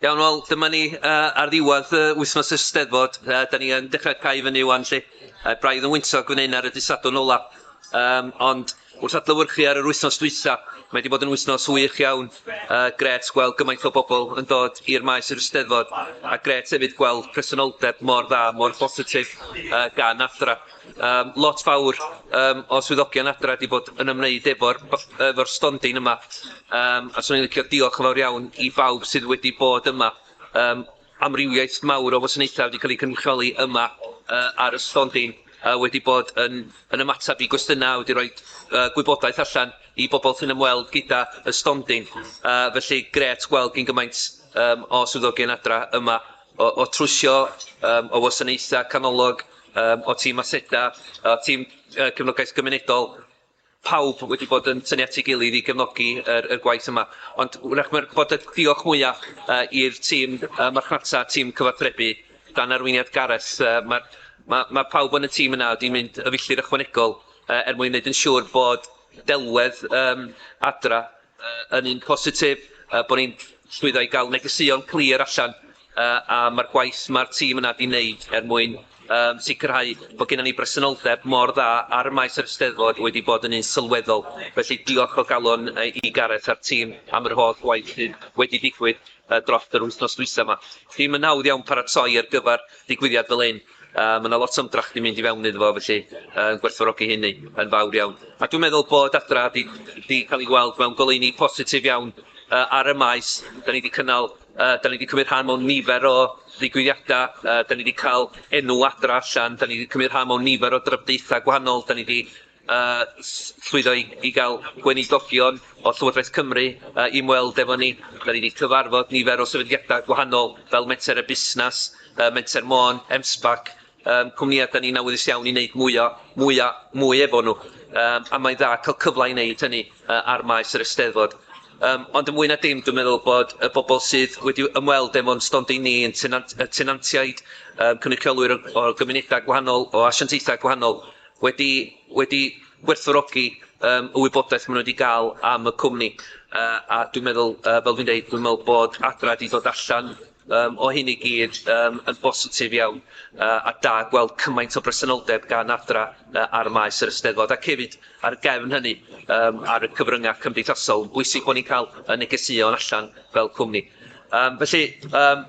Iawn, wel, dyma ni uh, ar ddiwedd uh, wythnos y steddfod. Uh, da ni yn dechrau cael fyny wan, lle. Uh, braidd yn wyntog gwneud ar y disadwn ola. Um, ond wrth adlywyrchu ar yr wythnos dwytha, mae wedi bod yn wythnos wych iawn. Uh, gret gweld gymaint o bobl yn dod i'r maes i'r steddfod, a gret hefyd gweld presenoldeb mor dda, mor bositif uh, gan athra. Yym lot fawr yym o swyddogion adra 'di bod yn ymwneud efo'r b- efo'r stondin yma yym a 'swn i'n licio diolch yn fawr iawn i bawb sydd wedi bod yma yym amrywiaeth mawr o wasanaethau wedi ca'l 'u cynrychioli yma yy ar y stondin a wedi bod yn yn ymatab i gwestiyna a wedi roid yy gwybodaeth allan i bobol sy'n ymweld gyda y stondin yy felly grêt gweld gyn gymaint yym o swyddogion adra yma o o trwsio yym o wasanaetha canolog yym o tîm aseda o tîm yy cefnogaeth gymunedol pawb wedi bod yn tynnu at ei gilydd i gefnogi yr y gwaith yma ond wrach ma'r bod y diolch mwya yy i'r tîm yy marchnata tîm cyfathrebu dan arweiniad Gareth yy ma' ma' ma' pawb yn y tîm yna wedi mynd y filltir ychwanegol yy er mwyn neud yn siŵr bod delwedd yym adra Yn un positif, bod ni'n llwyddo i gael negeseuon clir allan am y gwaith mae'r tîm yna 'di wneud er mwyn sicrhau bod gennym ni bresenoldeb mor dda ar y maes yr Eisteddfod wedi bod yn un sylweddol. Felly, diolch o galon i Gareth a'r tîm am yr holl waith sydd wedi digwydd dros yr wythnos dwytha' 'ma. Dim yn hawdd iawn paratoi ar gyfer digwyddiad fel hyn. Yy ma' 'na lot o ymdrech 'di mynd i fewn iddo fo felly yn gwerthfawrogi hynny yn fawr iawn. A dwi'n meddwl bod Adra 'di 'di ca'l 'i weld mewn goleuni positif iawn yy ar y maes. 'Dan ni 'di cynnal yy 'dan ni 'di cymryd rhan mewn nifer o ddigwyddiada yy 'dan ni 'di ca'l enw Adra allan, 'dan ni 'di cymryd rhan mewn nifer o drafodaetha gwahanol, 'dan ni 'di a llwyddo i gael gweinidogion o Llywodraeth Cymru i ymweld efo ni. Da ni 'di cyfarfod nifer o sefydliadau gwahanol fel Menter a Busnes, Menter Môn, MSBAC, cwmnïau da ni'n awyddus iawn i wneud mwy o, mwy a mwy efo nhw. A mae'n dda cael cyfle i wneud hynny ar maes yr Eisteddfod. Ond yn fwy na dim dwi'n meddwl bod y bobl sydd wedi ymweld efo'n stondin ni yn tenantiaid, cynrychiolwyr o gymunedau gwahanol, o asiantaethau gwahanol, wedi wedi gwerthfawrogi yym y wybodaeth ma' nw 'di ga'l am y cwmni yy a dwi'n meddwl yy fel dwi'n deud dwi'n me'wl bod Adra 'di dod allan yym o hyn i gyd yym yn bositif iawn yy a da gweld cymaint o bresenoldeb gan Adra yy ar y maes yr Eisteddfod ac hefyd ar y gefn hynny yym ar y cyfrynga cymdeithasol bwysig bo' ni'n ca'l y negeseuon allan fel cwmni. Yym felly yym